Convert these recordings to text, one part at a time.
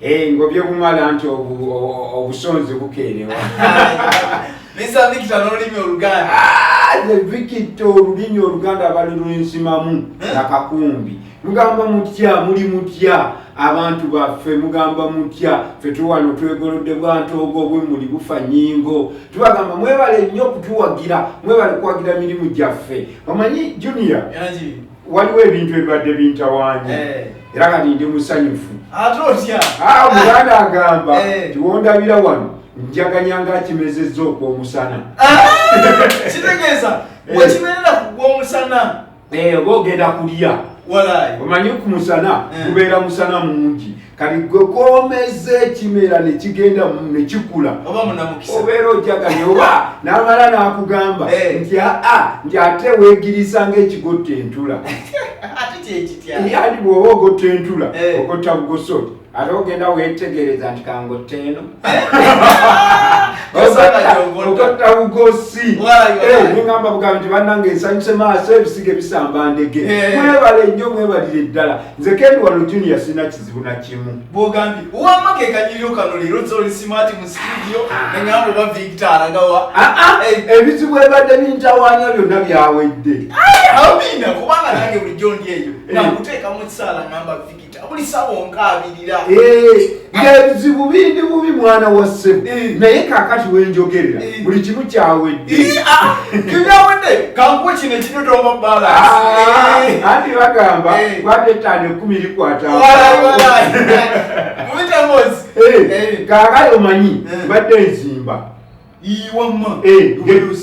Hey, eh, ngobye kumala nti obusonzi bukeerewa bisa vikita n'olulimi oluganda ah, the vikita olulimi oluganda abali lwensimamu eh? nakakumbi mugamba mutya muli mutya abantu baffe mugamba mutya fe tuwano twegolodde bwantoogo obwemuli bufa nyingo tubagamba mwebale nnyo okutuwagira mwebale kuwagira mirimu gyaffe omanyi junior waliwo ebintu ebibadde bintawanya eh. era kati ndi musanyufu ate otya ah, muganda agamba eh. tiwondabira wano njaganya nga akimezezza okwomusana ah! kitegeeza eh. wekibeerera kugwomusana oba ogenda kulya omanyi ku musana gubeera musana mungi kati gwe komeza ekimera nekigenda nekikula obeera ojaganye oba namala nakugamba eh. nti aa nti ate wegirisa ngaekigotta entula ali bwoba ogotta entula eh. ogotta bugosoti ate ogenda wetegereza nti kangotta eno ogotta bugosi nengamba bugambi nti banange nsanyuse maaso ebisige bisamba ndege mwebale nnyo mwebalire ddala nze kendi wano junior sina kizibu nakimu bwogambye wama kekanyiryo kano leero zoli simati mu studio ah. neŋamba oba victor alagawa ah, ah. Eh. ebizibu ebadde bintawanya byonna byawedde amina kubanga nange bulijjo ndi eyo eh. nakuteekamu ekisaala ŋamba victor buli sawa onkaabirira eh. ebizibu bindi bubi mwana wa ssebo eh. naye kakati wenjogerera eh. buli kimu kyawedde eh, ah, kibyawedde kankuwa kino ekidodooma bala ah, anti bagamba kwata ettaano ekumi likwatamu kakati omanyi badde nzimba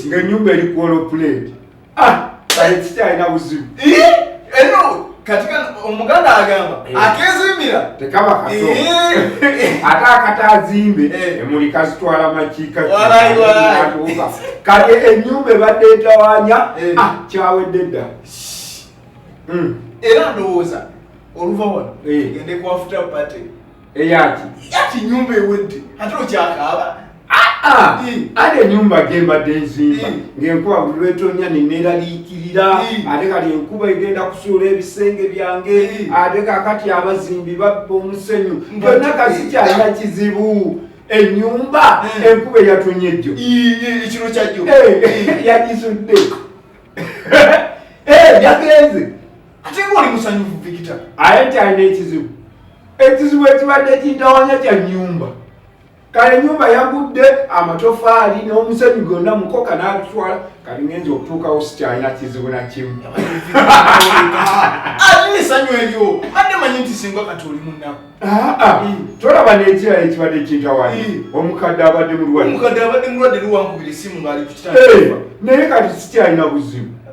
ng'enyumba eri kwolopuleti Ah, kikyalina buzibu eno kati kano omuganda agamba eh. akezimbira tekaba kato eh. ate akatazimbe eh. emuli kazitwala makiika kati enyumba ebadde etawanya ah, kyawedde dda hmm. era ndowooza oluva wano gende kwafuta pate eyaki yaki nyumba ewedde ate okyakaaba ate enyumba gyembadde nzimba ngaenkuba buli lwetonya neneraliikirira ate kati enkuba egenda kusuula ebisenge byange ate kakati abazimbi babba omusenyu byonna kasikyalina kizibu enyumba enkuba eyatonye jjo ekiro kyajjo yagizudde yagenze ate ng'oli musanyufu vikita aye nti alina ekizibu ekizibu ekibadde kintawanya kya nyumba kale nyumba yagudde amatofaali n'omusenyu gonna mukoka n'atutwala kati ngenza okutuukawo sikyalina kizibu na kimu alina esanyu eryo adde manyi nti singa kati oli munaku ah, ah. tolaba n'ekirala ekibadde kintawanya omukadde abadde mulwadde omukadde abadde mulwadde liwankubira esimu ng'ali ku kitanda naye kati sikyalina buzibu